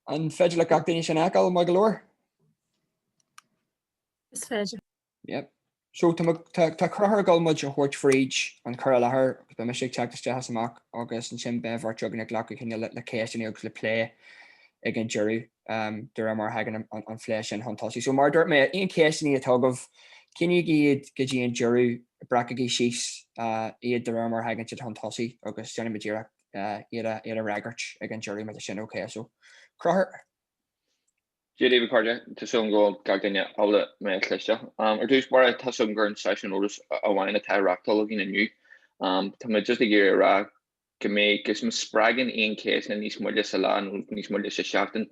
An féidir le gach duine sin a fheiceáil maith go leor? Is féidir. Yep. So tá Conchúr ag dul muid a thabhairt fríd an chur i láthair agus beidh mise ag teacht isteach is amach agus ansin beidh an triúr againn ag glacadh cinnte le ceisteanna agus le plé ag an deireadh um, de réir mar a thagann an, an, an plé sin chun tosaigh. So mar a dúirt mé, aon cheisteanna atá agaibh, coinnígí iad go dtí an deireadh, breacaigí síos uh, iad de réir mar a thagann siad chun tosaigh agus déanfaidh muid iarracht iad a fhreagairt ag an deireadh mar sin. Okay so Conchúr. Dia daoibh a chairde, tá súil agam go bhfuil gach duine ábalta mé a chloisteacht. Ar dtús báire, tá a fhios agam gur aon seisiún eolais amháin atá á reachtáil againn inniu. Tá mé just ag iarraidh a rá go mbeidh, agus má spreagann aon cheisteanna níos moille sa lá nó níos moille sa seachtain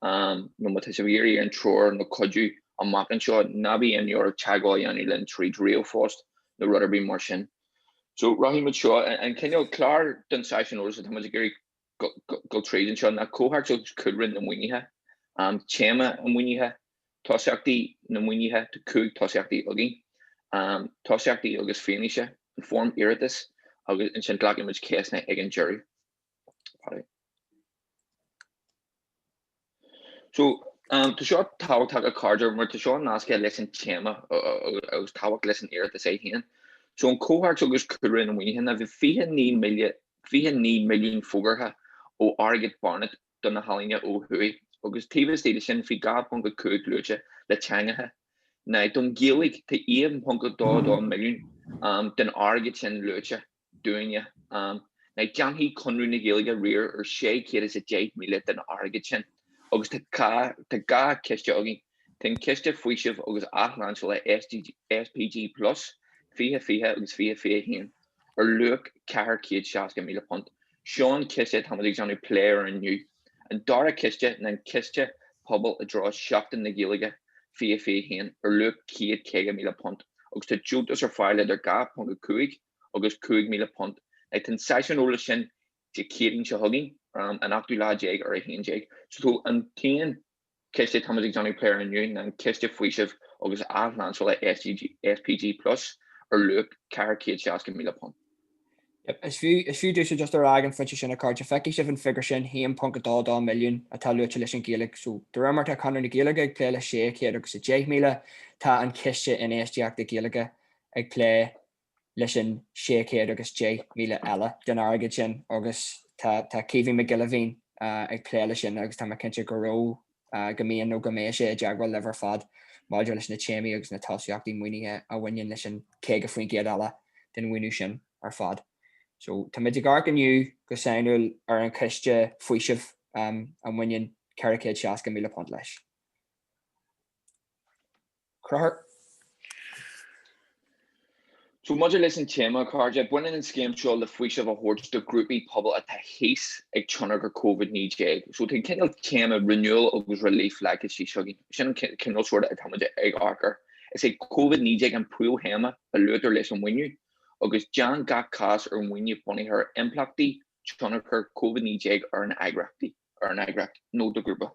nó má tá sibh ag iarraidh aon treoir nó cuidiú amach anseo, ná bíodh imní oraibh teagmháil a dhéanamh linn tríd ríomhphost nó rud ar bith mar sin. So rachaidh muid seo, an cineál clár den seisiún eolais atá muid ag iarraidh dul tríd anseo ná comhthéacs agus cúlra na maoinithe, téama an mhaoinithe, tosaíochtaí na maoinithe, tá cúig tosaíochtaí againn, tosaíochtaí agus fianaise, an fhoirm iarratais agus ansin glacfaidh muid ceisteanna ag an deireadh. So, um, tá seo tábhachtach a chairde mar tá seo nasctha leis an téama agus tábhacht leis an iarratas é féin. So an comhthéacs agus cúlra na maoinithe ná bhí 29 milliún fógartha ó airgead Barnett do na healaíona ó thuaidh agus taobh istigh de sin bhí 2.5 luaite le teangacha. Now don Ghaeilge tá 1.22 milliún um, den airgead sin luaite. dúinne. Now déanfaidh Conradh na Gaeilge riar ar sé chéad is a deich míle den airgead sin, agus tá dhá, tá dhá chiste againn. Tá an Ciste Faoisimh agus Athlainseála, SPG plus, fiche, fiche agus fiche, fiche a haon, ar luach ceathair chéad seasca míle punt. Seo an ciste atáimid ag déanamh plé air inniu. An dara ciste ná an Ciste Pobail i dtreo Sheachtain na Gaeilge, fiche, fiche a haon, ar luach céad caoga míle punt, agus tá deontas ar fáil idir dhá ponc a cúig agus £5,000. Now tá an seisiún eolais sin Dé Céadaoin seo chugainn, ar an 18ú lá déag ar a 11. So an t-aon chiste táimid ag déanamh plé air inniu ná an Ciste Faoisimh agus Athlainseála SPG Plus ar luach £460,000. Yep, is fiú domhsa just a rá ag an phointe sin, a chairde, feicfidh sibh an figiúr sin, 1.22 milliún, atá luaite leis an Ghaeilge. So, de réir mar atá Conradh na Gaeilge ag plé le 610,000, tá an Ciste Infheistíochta Gaeilge ag plé leis an 600 agus 10,000 eile den airgead sin agus tá tá Caoimhín Mac Giolla Mhín ag plé leis sin agus tá mé cinnte go raibh, go mbíonn nó go mbeidh sé i dteagmháil libh ar fad maidir leis na téamaí agus na tosaíochtaí maoinithe a bhaineann leis an 50% eile den mhaoiniú sin ar fad. So táimid ag amharc inniu go sainiúil ar an chiste faoisimh a mbaineann ceithre chéad seasca míle punt leis. a Chonchúir. So maidir leis an téama, a chairde, baineann an scéim seo le faoiseamh a thabhairt do ghrúpaí pobail atá thíos ag tionchar Covid-19. So tá an cineál téama renewal agus relief leagtha síos againn. Sin an cineál sórt atá muid ag amharc air. Is é Covid-19 an príomhthéama a luaitear leis an maoiniú agus déantar gach cás ar mhaoiniú bunaithe ar impleachtaí tionchar Covid-19 ar an eagraíochtaí. ar an eagraíocht nó do ghrúpa.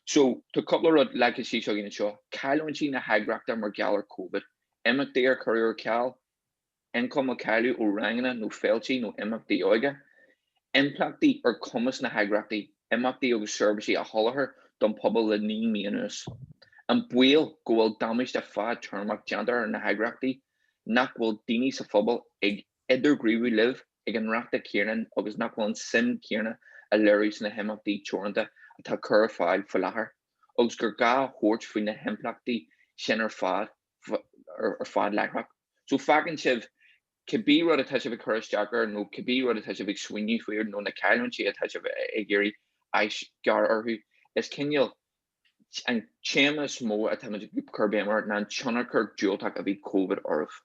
So, tá cúpla rud leagtha síos againn anseo, cailliúintí na heagraíochta mar gheall ar Covid, imeachtaí a cuireadh ar ceal, ioncam a cailleadh ó ranganna nó féiltí nó imeachtaí óige, impleachtaí ar chumas na heagraíochta imeachtaí agus seirbhísí a sholáthar don phobal le naoi mí anuas, an baol go bhfuil damáiste fad-téarmach déanta ar na heagraíochtaí, nach bhfuil daoine sa phobal ag. idirghníomhú libh ag an ráta céarna agus nach bhfuil an suim chéarna á léiriú sna himeachtaí teoranta atá cur ar fáil faoi láthair agus gur gá thabhairt faoi na himpleachtaí sin ar fad ar fad láithreach. So fágann sin cibé rud atá sibh ag cur isteach air nó cibé rud atá sibh ag smaoineamh faoi nó na cailliúintí atá sibh ag iarraidh aisghairm orthu. Is cineál an téama is mó atá muid ag cur béim air ná an tionchar diúltach a bhí Covid oraibh.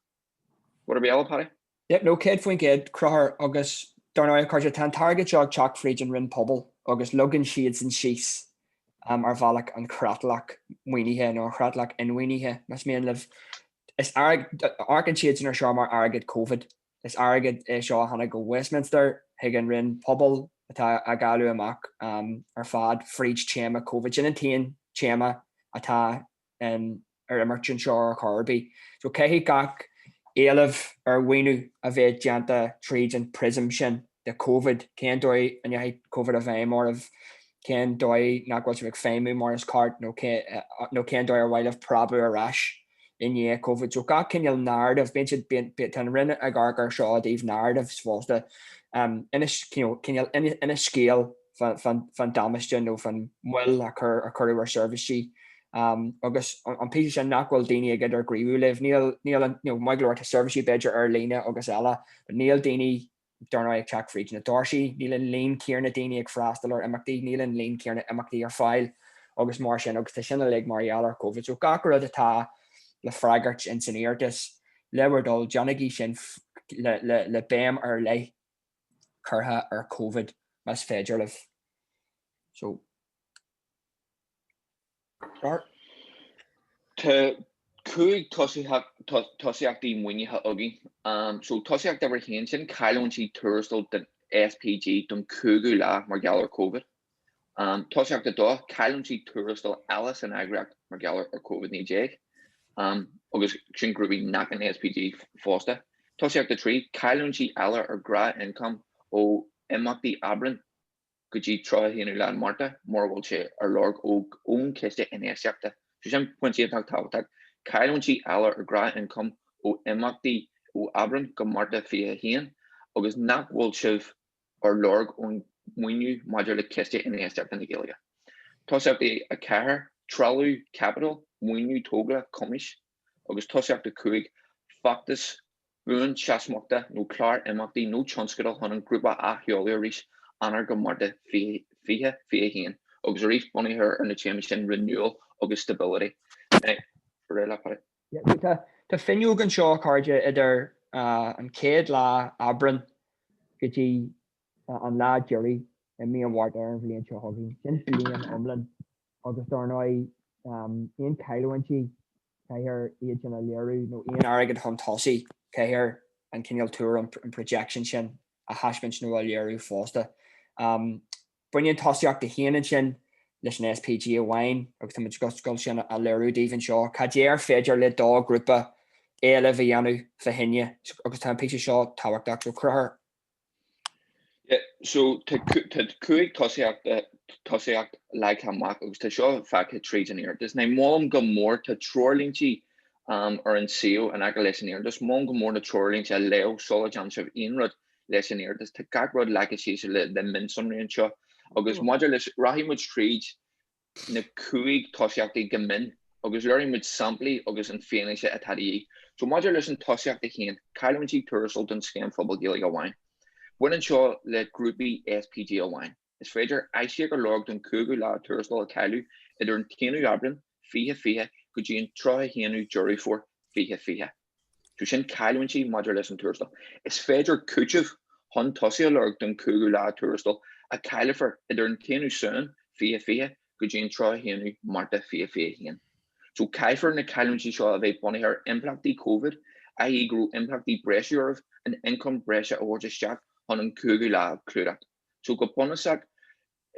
Ar mhaith leat, a Phádaí? Yep, no, 100% a Chonchúir agus dar ndóigh, a Chairde, tá an t-airgead seo ag teacht fríd an Roinn Pobal agus leagann siadsan síos ar bhealach an chreatlach maoinithe nó an chreatlach inmhaoinithe, más mian libh. Is airgead, amharcann siadsan air seo mar airgead Covid, is airgead é seo a tháinig ó Westminster chuig an Roinn Pobal atá á dháiliú amach ar fad fríd téama Covid. Sin an t-aon téama atá ar imirt anseo ar chor ar bith. So caithfidh gach éileamh ar mhaoiniú a bheith déanta tríd an prism sin de Covid, cén dóigh a ndeachaidh Covid i bhfeidhm oraibh, cén dóigh nach bhfuil sibh ag feidhmiú mar is ceart nó nó cén dóigh ar mhaith libh preabadh ar ais i ndiaidh Covid. So gach cineál narrative, bíonn siad, bíonn, tá an Roinn ag amharc air seo ó thaobh narratives fosta, cineál, cineál scéal. faoin damáiste nó faoin mhoill a cuireadh ar sheirbhísí agus an píosa sin nach bhfuil daoine ag idirghníomhú libh, níl, maith go leor, tá seirbhísí b'fhéidir ar líne agus eile, níl daoine, dár ndóigh, ag teacht fríd na doirsí, níl an líon céanna daoine ag freastal ar imeachtaí, níl an líon céanna imeachtaí ar fáil agus mar sin agus tá sin uilig mar gheall ar Covid. So gach rud atá le freagairt in san iarratas, le bhur dtoil, déanaigí sin le béim ar leith. curtha ar covid más féidir libh. So tá cúig tosaíochtaí maoinithe againn. Um, so tosaíocht uimhir 1 sin cailliúintí tuarastail don SPG don cúigiú lá mar gheall ar covid. Tosaíocht a dó, cailliúintí tuarastail eile san eagraíocht mar gheall ar Covid 19. Agus sin grúpaí nach in SPG fosta. Tosaíocht a trí, cailliúintí eile, ar nós ioncam ó imeachtaí Aibreán go dtí 31ú lá Márta mura bhfuil sé ar lorg ó ón ciste infheistíochta. So sin pointe iontach tábhachtach. Cailliúintí eile, ar nós ioncam ó imeachtaí ó Aibreán go Márta 21 agus nach bhfuil sibh ag lorg aon mhaoiniú maidir le Ciste Infheistíochta na Gaeilge. Tosaíocht a 4, Trealamh Caipitil, Maoiniú Tógála Cumais agus Tosaíocht a 5, Feachtas Buanseasmhachta nó Clár Imeachtaí nó Tionscadal chun an Grúpa a athsheoladh arís, Eanáir go Márta 2021, agus arís bunaithe ar na téamaí sin Renewal agus Stability. Tá fuinneog anseo, a chairde, idir an chéad lá Aibreán go dtí an lá deiridh i mí an Mhárta ar an bhliain seo chugainn. Sin bliain iomlán agus dár ndóigh aon chailliúintí, caithfear iad sin a léiriú nó aon airgead chun tosaigh, caithfear an cineál tuar, an projection sin a thaispeáint nó a léiriú fosta. Baineann tosaíocht a 1 ansin leis an SPG amháin agus tá muid ag gabháil sin a léiriú daoibh anseo cad é ar féidir le do ghrúpa éileamh a dhéanamh fá choinne agus tá an píosa seo tábhachtach. So Cruthúr. So tá cúig tosaíochta tosaíocht leagtha amach agus tá seo feicthe tríd an iarratas. Now molaim go mór tá treoirlínte um ar an suíomh in aice leis an iarratas. Molaim go mór na treoirlínte a léamh sula déanann sibh aon rud. leis an iarratas. Tá gach rud leagtha síos le mionsonraí anseo agus maidir leis, rachaidh muid tríd na cúig tosaíochtaí go mion agus léireoidh muid samplaí agus an fianaise atá de dhíth. So, maidir leis an tosaíocht a haon, cailliúintí tuarastail don Scéim Phobail Gaeilge amháin. Baineann seo le grúpaí SPG amháin. Is féidir aisíoc a lorg don chúigiú lá tuarastail a cailleadh idir an 1ú Aibreán, 2020 go dtí an 31ú Deireadh Fómhair, 2020. So sin cailliúintí maidir leis an tuarastal. Is féidir cúiteamh chun tosaigh a lorg don chúigiú lá tuarastail a chaillfear idir an 1ú Samhain, 2020 go dtí an 31ú Márta, 2021. So caithfear na cailliúintí seo a bheith bunaithe ar impleachtaí Covid, i.e. go raibh impleachtaí breise oraibh an ioncam breise a thabhairt isteach chun an cúigiú lá a chlúdach. So go bunúsach,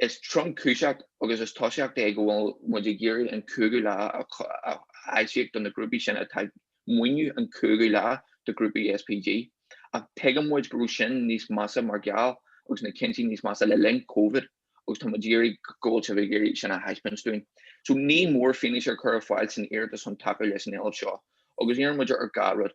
is tromchúiseach agus is tosaíocht é go bhfuil muid ag iarraidh an cúigiú lá a aisíoc do na grúpaí sin atá ag maoiniú an cúigiú lá do ghrúpaí SPG. Ach tuigeann muid go raibh sin níos measa mar gheall agus, cinnte, níos measa le linn Covid agus tá muid iarraidh go bhfuil sibh ag iarraidh sin a thaispeáint dúinn. So ní mór fianaise ar chur ar fáil san iarratas chun tacú leis an éileamh seo agus iarrann muid ar gach rud.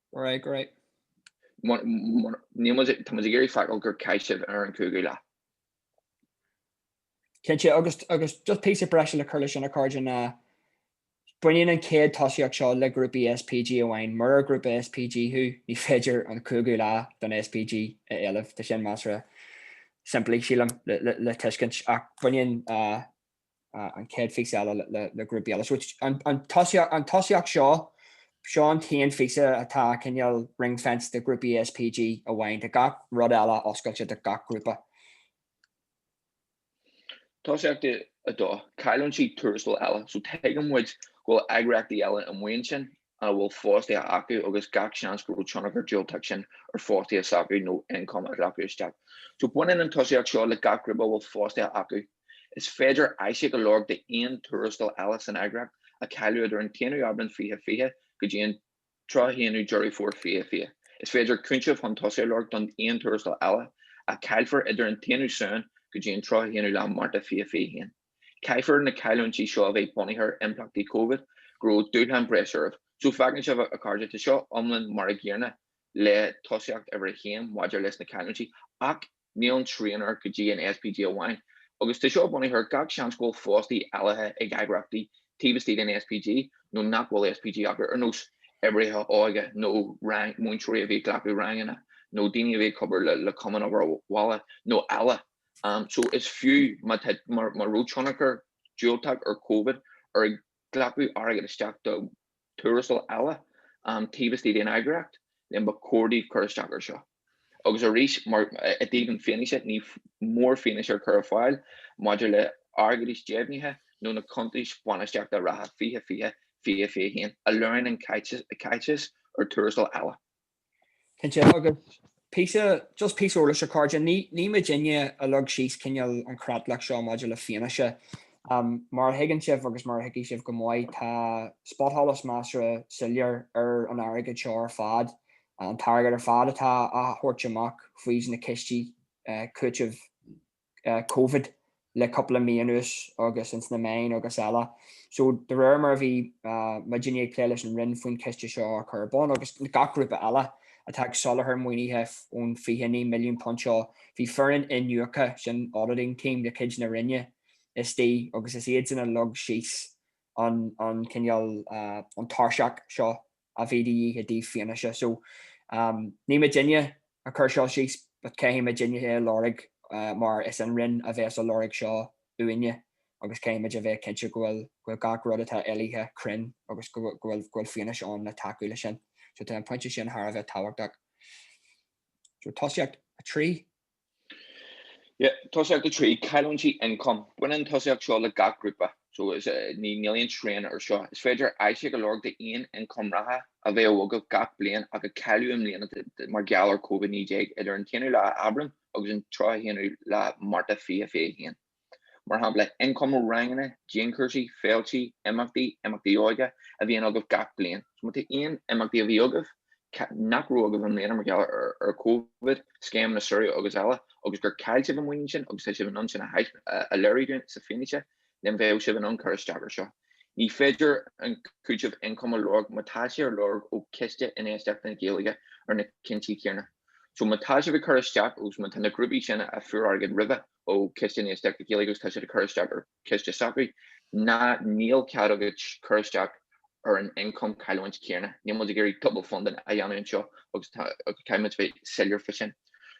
Right, go díreach, níl muid, tá muid ag iarraidh feiceáil gur chaith sibh ar an chúigiú lá. Cinnte, agus agus just píosa breise le cur leis sin, a chairde, ná baineann an chéad tosaíocht seo le grúpaí SPG amháin. Murar grúpa SPG thú, ní féidir an cúigiú lá den SPG a éileamh. Tá sin measartha simplí, sílim, le le tuiscint, ach baineann an chéad phíosa eile le grúpaí eile. So an tosaíocht seo, seo an t-aon phíosa atá cineál ring-fenced do ghrúpaí SPG amháin, tá gach rud eile oscailte do gach grúpa. Tosaíocht 2, Cailliúintí tuarastail eile. So tuigeann muid go bhfuil eagraíochtaí eile amuigh ansin a bhfuil fostaithe acu agus gach seans go raibh tionchar diúltach sin ar fostaithe s'acu nó ioncam a ghlacadh isteach. So baineann an tosaíocht seo le gach grúpa a bhfuil fostaithe acu. Is féidir aisíoc a lorg d'aon tuarastal eile san eagraíocht a cailleadh idir an t-aonú Aibreán 2020 go dtí an tríocha haonú Deireadh Fómhair 2020. Is féidir cúiteamh chun tosaigh a lorg don aon tuarastal eile a chaillfear idir an t-aonú Samhain go dtí an tríocha haonú lá Márta 2021. Caithfear na cailliúintí seo a bheith bunaithe ar impleachtaí Covid, go raibh dúshlán breise oraibh. So feiceann sibh, a chairde, tá seo iomlán mar an gcéanna le tosaíocht uimhir a haon maidir leis na cailliúintí, ach níl an srian air go dtí an SPG amháin. Agus tá seo bunaithe ar gach seans go bhfuil fostaithe eile ag eagraíochtaí taobh istigh den SPG nó nach bhfuil SPG acu, ar nós oibrithe óige nó rang, múinteoirí a bhí ag glacadh ranganna nó daoine a bhí ag obair le Cumann Obair Bhaile nó eile. so is fiú má tá, má raibh tionchar diúltach ar Covid ar ghlacadh airgead isteach do tuarastail eile taobh istigh den eagraíocht, then ba chóir daoibh cur isteach air seo. Agus arís, mar, i dtaobh na fianaise, ní mór fianaise a chur ar fáil maidir le ráitis deimhnithe nó na cuntais bainistíochta reatha 2020, 2021 a léiríonn an caiteachas ar tuarastail eile. Cinnte, agus píosa, just píosa eolais a chairde, ní, ní muidinne a leag síos cineál an chreatlach seo maidir le fianaise. Mar a thuigeann sibh agus mar a thuigfidh sibh go maith, tá spotsholas measartha soiléir ar an airgead seo ar fad, an t-airgead ar fad atá á thabhairt amach faoi na cistí cúitimh Covid le cúpla mí anuas agus ins na meáin agus eile. So de réir mar a bhí muidinne ag plé leis an Roinn faoin ciste seo a chur ar bun agus gach grúpa eile atá ag soláthar maoinithe ón £29 milliún seo, bhí foireann iniúchta, sin auditing team, de chuid na Roinne istigh agus is iad sin a leag síos an cineál, an tairseach seo a bhí de dhíth i dtaobh fianaise. So, ní muidinne a chuir seo síos, but caithfidh muidinne é a lorg mar is an Roinn a bhéas ag lorg seo uainne agus caithfimid a bheith cinnte go bhfuil gach rud atá éilithe cruinn agus go bhfuil fianaise ann le tacú leis sin. So, tá an pointe sin thar a bheith tábhachtach. So, tosaíocht a trí. Tosaíocht 3, Cailliúintí ioncaim, Baineann an tosaíocht seo le gach grúpa, so is ní níl aon srian ar seo. Is féidir aisíoc a lorg d'aon ioncam reatha a bheadh agaibh gach bliain ach a cailleadh i mbliana mar gheall ar Covid-19 idir an t-aonú lá Aibreán agus an 31ú lá Márta 2021. mar shampla ioncam ó ranganna, dianchúrsaí, féiltí, imeachtaí, imeachtaí óige a bhíonn agaibh gach bliain. Má tá aon imeachtaí a bhí agaibh nach raibh agaibh i mbliana mar gheall ar Covid, scéimeanna samhraidh agus eile, agus gur chaill sibh an maoiniú sin agus tá sibh in ann sin a léiriú dúinn sa fianaise, then beidh sibh in ann cur isteach ar seo. Ní féidir an cúiteamh ioncaim a lorg má tá sé ar lorg ó Chiste Infheistíochta na Gaeilge ar na cúinsí céanna. So má tá sibh ag cur isteach agus má tá na grúpaí sin a fuair airgead roimhe, ó Chiste Infheistíochta na Gaeilge agus tá siad ag cur isteach ar chiste s'acu ná níl cead agat cur isteach ar an ioncam cailliúint chéanna. Níl muid ag iarraidh double funding a dhéanamh anseo agus caithfimid bheith soiléir fá sin.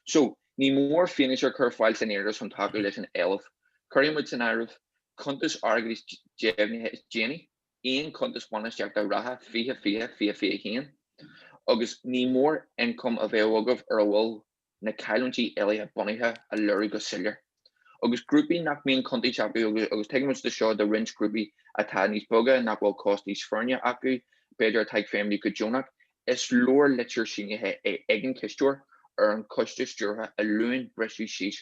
So, ní mór fianaise a chur ar fáil san iarratas chun tacú leis an éileamh. Cuirfidh muid san áireamh cuntais airgeadais deimhnithe is déanaí, aon chuntas bainistíochta reatha 2020 2021, agus ní mór ioncam a bheith agaibh ar a bhfuil na cailliúintí éilithe bunaithe a léiriú go soiléir. Agus grúpaí nach mbíonn cuntais acu agus tuigimid de seo do roinnt grúpaí atá níos beaga nach bhfuil cóstaí foirne acu b'fhéidir atá ag feidhmiú go deonach, is leor litir sínithe ag an chisteoir ar an choiste stiúrtha a luann briseadh síos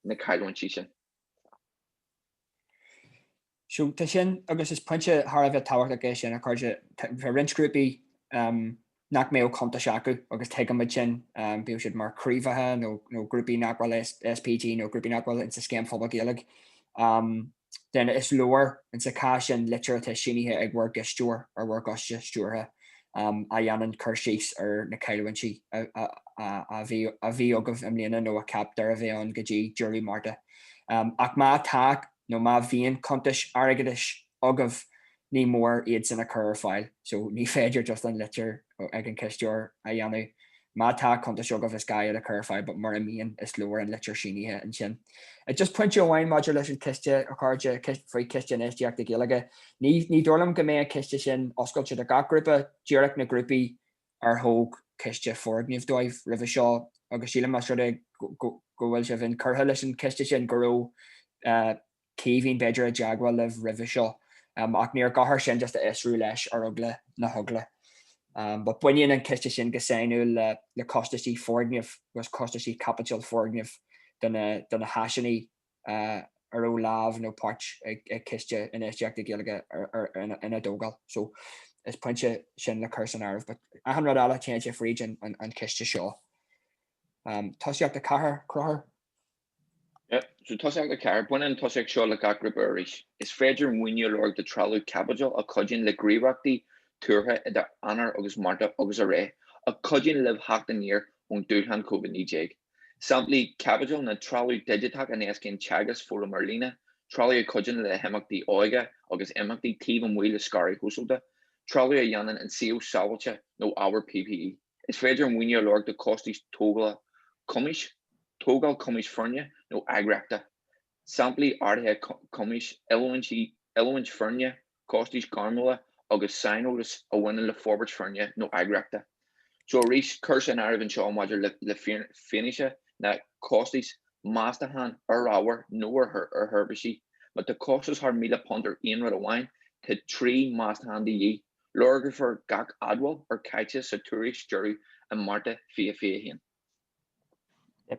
na cailliúintí sin. So tá sin agus is pointe thar a bheith tábhachtach é sin, a chairde. Tá roinnt grúpaí nach mbeadh cuntais acu agus tuigimid sin, bíodh siad mar chraobhacha nó grúpaí nach bhfuil i SPG nó grúpaí nach bhfuil insa Scéim Phobal Gaeilge, then is leor insa chás sin litir atá sínithe ag bhur gcisteoir ar bhur gcoiste stiúrtha a dhéanann cur síos ar na caillteanais a bhí agaibh i mbliana nó a cheaptar a bheidh ann go dtí deireadh Márta. Ach má tá, nó má bhíonn cuntais airgeadais agaibh ní mór iad sin a chur ar fáil so ní féidir just an litir ag an cisteoir a dhéanamh. Má tá cuntais agaibh is gá iad a chur ar fáil but mura mbíonn is leor an litir sínithe ansin. Just pointe amháin maidir leis an chiste a chairde, faoi Chiste Infheistíochta Gaeilge, ní dóigh liom go mbeidh an ciste sin oscailte do gach grúpa, díreach na grúpaí ar thóg an ciste foirgnimh dóibh roimhe seo agus sílim más rud é go bhfuil sibh inchurtha leis an chiste sin go raibh Caoimhín b'fhéidir i dteagmháil libh roimhe seo ach níor ghá ach é sin just a fhiosrú leis ar eagla na heagla but baineann an ciste sin go sainiúil le costaisí foirgneamh agus costaisí caipiteal foirgneamh do na háiseanna a raibh lámh nó páirt ag Ciste Infheistíochta Gaeilge ina dtógáil so is pointe sin le cur san áireamh. But achan rud eile téann sé fríd an chiste seo. Tosaíocht 4, Cruthú. So Tosaíocht 4, baineann an tosaíocht seo le gach grúpa arís. Is féidir maoiniú a lorg do trealamh caipitil a chuidíonn le gníomhaíochtaí tuartha idir Eanáir agus Márta agus a réir a chuidíonn libh theacht aniar ón dúshlán Covid 19. Samplaí caipitil ná trealamh digiteach a éascaíonn teagasc, foghlaim ar líne, trealamh a chuidíonn le himeachtaí óige agus imeachtaí taobh amuigh le scaradh shóisialta, trealamh a dhéanann an suíomh sábháilte nó ábhar PPE. Is féidir maoiniú a lorg do chostais tógála cumais, tógáil cumais foirne nó eagraíochta, samplaí ardaithe cumais, oiliúint foirne, costais ghairmiúla agus saineolas a bhaineann le forbairt foirne nó eagraíochta. So arís cur san áireamh anseo maidir le fianaise na costais, meastachán ar ábhar nó ar sheirbhísí. Má tá costas thar £1,000 ar aon rud amháin, tá trí mheastachán de dhíth. Lorgófar gach admháil ar chaiteachas sa tuairisc deiridh i Márta 2021.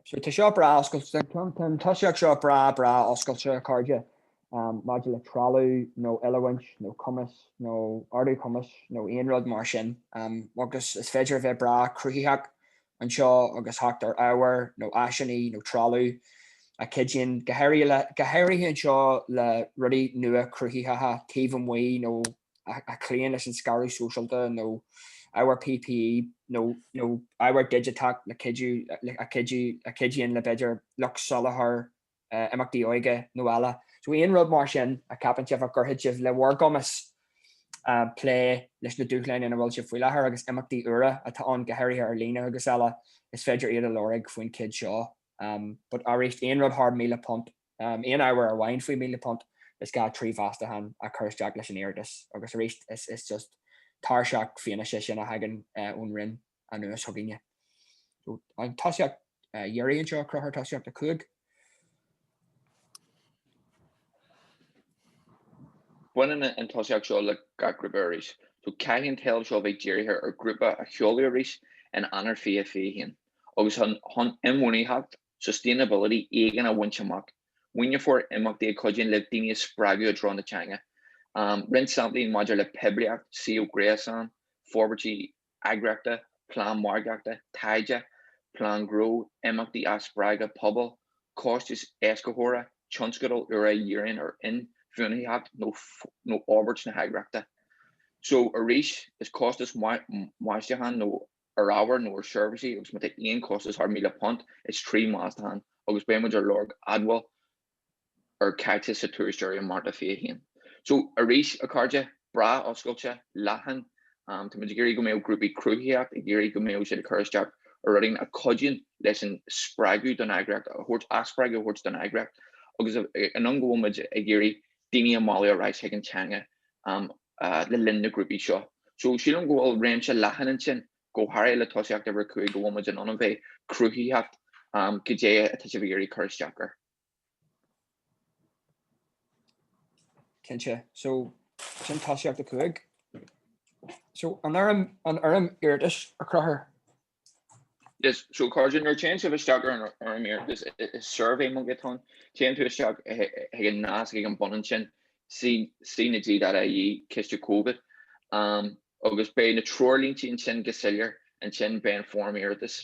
So tá seo breá oscailte, an tosaíocht seo breá, breá oscailte, a chairde, maidir le trealamh nó oiliúint nó cumas nó ardú cumais nó aon rud mar sin, agus is féidir a bheith breá cruthaitheach anseo agus theacht ar ábhair nó áiseanna nó trealamh a chuidíonn go háirithe anseo le rudaí nua cruthaitheacha taobh amuigh nó a chloíonn leis an scaradh sóisialta nó ábhar PPE nó ábhar digiteach a chuidíonn le b'fhéidir lucht soláthair, imeachtaí óige nó eile. So aon rud mar sin a cheapann sibh a chuirfidh le bhur gcumas plé leis na dúshláin ina bhfuil sibh faoi láthair agus imeachtaí úra atá ann go háirithe ar líne agus eile, is féidir iad a lorg faoin cheann seo. But arís, aon rud thar míle punt aon ábhar amháin faoi £1,000, is gá trí mheastachán a chur isteach leis an iarratas agus arís is just tairseach fianaise sin a thagann ón Roinn anuas chugainne. An tosaíocht dheiridh anseo, Crochur Tosaíocht 5. Baineann an tosaíocht seo le gach grúpa arís, so caithfidh an t-ábhar seo a bheith dírithe ar ghrúpa a sheoladh arís in Eanáir 2021 agus chun inbhuanaitheacht sustainability, éigean a bhaint amach, maoineofar imeachtaí a cuidíonn le daoine a spreagadh i dtreo na teanga, roinnt samplaí maidir le poiblíocht, suíomh gréasáin, forbairtí eagraíochta, plean margaíochta, taighde, plean gnó, imeachtaí a spreagadh pobail, costais éascaitheora, tionscadail úra a dhíríonn ar inbhuanaitheacht nó fhorbairt na heagraíochta. So, arís, is costas meastachán nó ar ábhar nó ar seirbhísí agus má tá aon chostas thar £1,000 is trí meastachán agus beidh muid ar lorg admháil ar caiteachas sa tuairisc dheiridh i Márta 21. So arís, a chairde, breá oscailte, leathan, tá muid ag iarraidh go mbeadh grúpaí cruthaitheacht ag iarraidh go mbeadh siad ag cur isteach ar rudaí a chuidíonn leis an spreagadh don eagraíocht a thabhairt athspreagadh a thabhairt don eagraíocht agus an am go bhfuil muid ag iarraidh daoine a mhealladh ar ais chuig an teanga a le linn na grúpaí seo. So sílim go bhfuil réimse leathan ansin, go háirithe le tosaíocht uimhir a cúig go bhfuil muid in ann a bheith cruthaitheach cad é atá sibh ag iarraidh cur isteach ar. Cinnte. So sin tosaíocht a cúig. So an fhoirm, an fhoirm iarratais a Chrochuir. Yes so a chairde nuair téann sibh isteach ar an iarratas is suirbhé Monkey atá ann, téann tú isteach chuig an nasc ag an mbun ansin, CnaG.ie, Ciste Covid, agus beidh na treoirlínti ansin go soiléir, ansin beidh an Fhoirm Iarratais.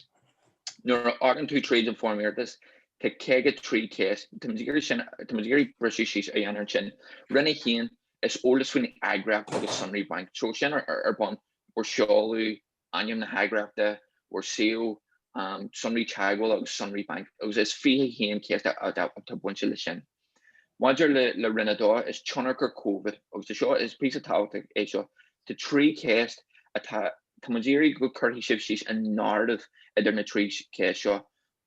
Nuair a théann tú tríd an Fhoirm Iarratais, tá 53 ceist, tá muid ag iarraidh briseadh síos a dhéanamh ansin, roinn 1, is eolas faoin eagraíocht agus sonraí bainc, so sin ar bun, bhur seoladh Ainm na hEagraíochta, bhur suíomh, sonraí teagmhála agus sonraí bainc, agus is 21 ceist atá bainte leis sin. Maidir le Roinn 2, is tionchar covid agus seo, is píosa tábhachtach é seo, tá trí cheist atá, tá muid iarraidh go gcuirfidh sibh síos an narrative idir na trí cheist seo,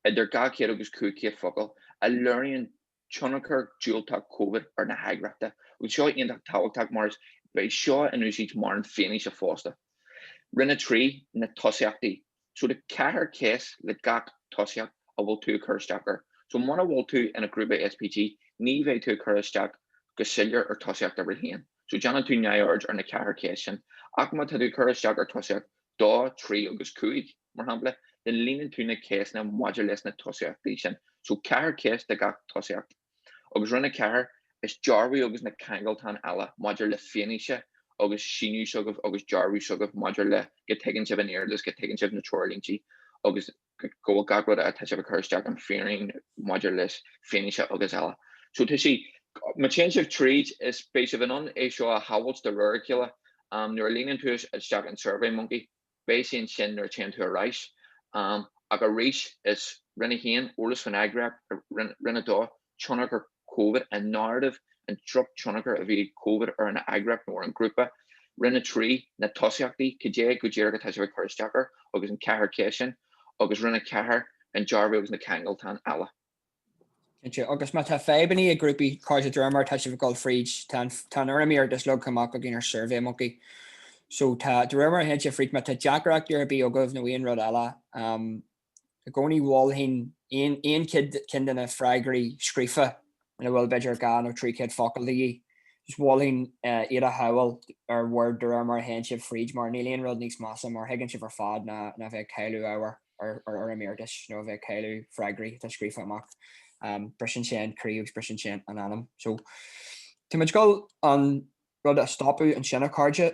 idir 200 agus 500 focal, a léiríonn tionchar diúltach Covid ar na heagraíochta, agus tá seo iontach tábhachtach mar is beidh seo in úsáid mar an fianaise fosta. Roinn 3, Na Tosaíochtaí So tá ceathair ceist le gach tosaíocht a bhfuil tú ag cur isteach air. So muna bhfuil tú ina ghrúpa SPG ní bheidh tú ag cur isteach go soiléir ar thosaíocht uimhir 1. So déanann tú neamhaird ar na ceathair ceist sin, ach má tá tú ag cur isteach ar tosaíocht dó, trí agus cúig, mar shampla, then líonann tú na ceisteanna maidir leis na tosaíochtaí sin. So ceathair ceist de gach tosaíocht. Agus roinn a ceathair, is dearbhú agus na ceangaltáin eile maidir le fianaise agus síniú s'agaibh agus dearbhú s'agaibh maidir le go dtuigeann sibh an t-iarratas go dtuigeann sibh na treoirlíntí agus go bhfuil gach rud atá sibh a chur isteach an fírinne maidir le fianaise agus eile. So tá sí Ma téann sibh tríd, beidh sibh in ann é seo a shábháil de réir a chéile. Um, nuair a líonann tú isteach an survey monkey, beidh sé ansin nuair téann tú ar ais. Um, ach arís is roinn a haon eolas fan eagraíocht roinn a dó tionchar Covid, an narrative, an drochtionchar a bhí ag Covid ar an eagraíocht nó ar an ghrúpa. Roinn 3, na tosaíochtaí, cad é go díreach atá sibh ag cur isteach air, agus an ceathair ceist sin, agus Roinn 4, an dearbhú agus na ceangaltáin eile. Agus má tá fadhbanna ar bith ag grúpaí, a chairde, de réir mar atá sibh ag dul fríd, tá an fhoirm iarratais leagtha amach againn ar Survey Monkey. So tá de réir mar a théann sibh fríd, má tá deacrachtaí ar bith agaibh nó aon rud eile, i gcónaí mholfainn aon cheann de na freagraí scríofa ina bhfuil b'fhéidir dhá nó trí chéad focal de dhíth, just mholfainn iad a shábháil ar Word de réir mar a théann sibh fríd mar níl aon rud níos measa mar thuigeann sibh ar fad ná a bheith ag cailleadh ábhair ar fhoirm iarratais nó a bheith ag cailleadh freagraí atá scríofa amach. Briseann sin an croí agus briseann sin an anam. So tá muid ag dul an rud a stopadh ansin a chairde.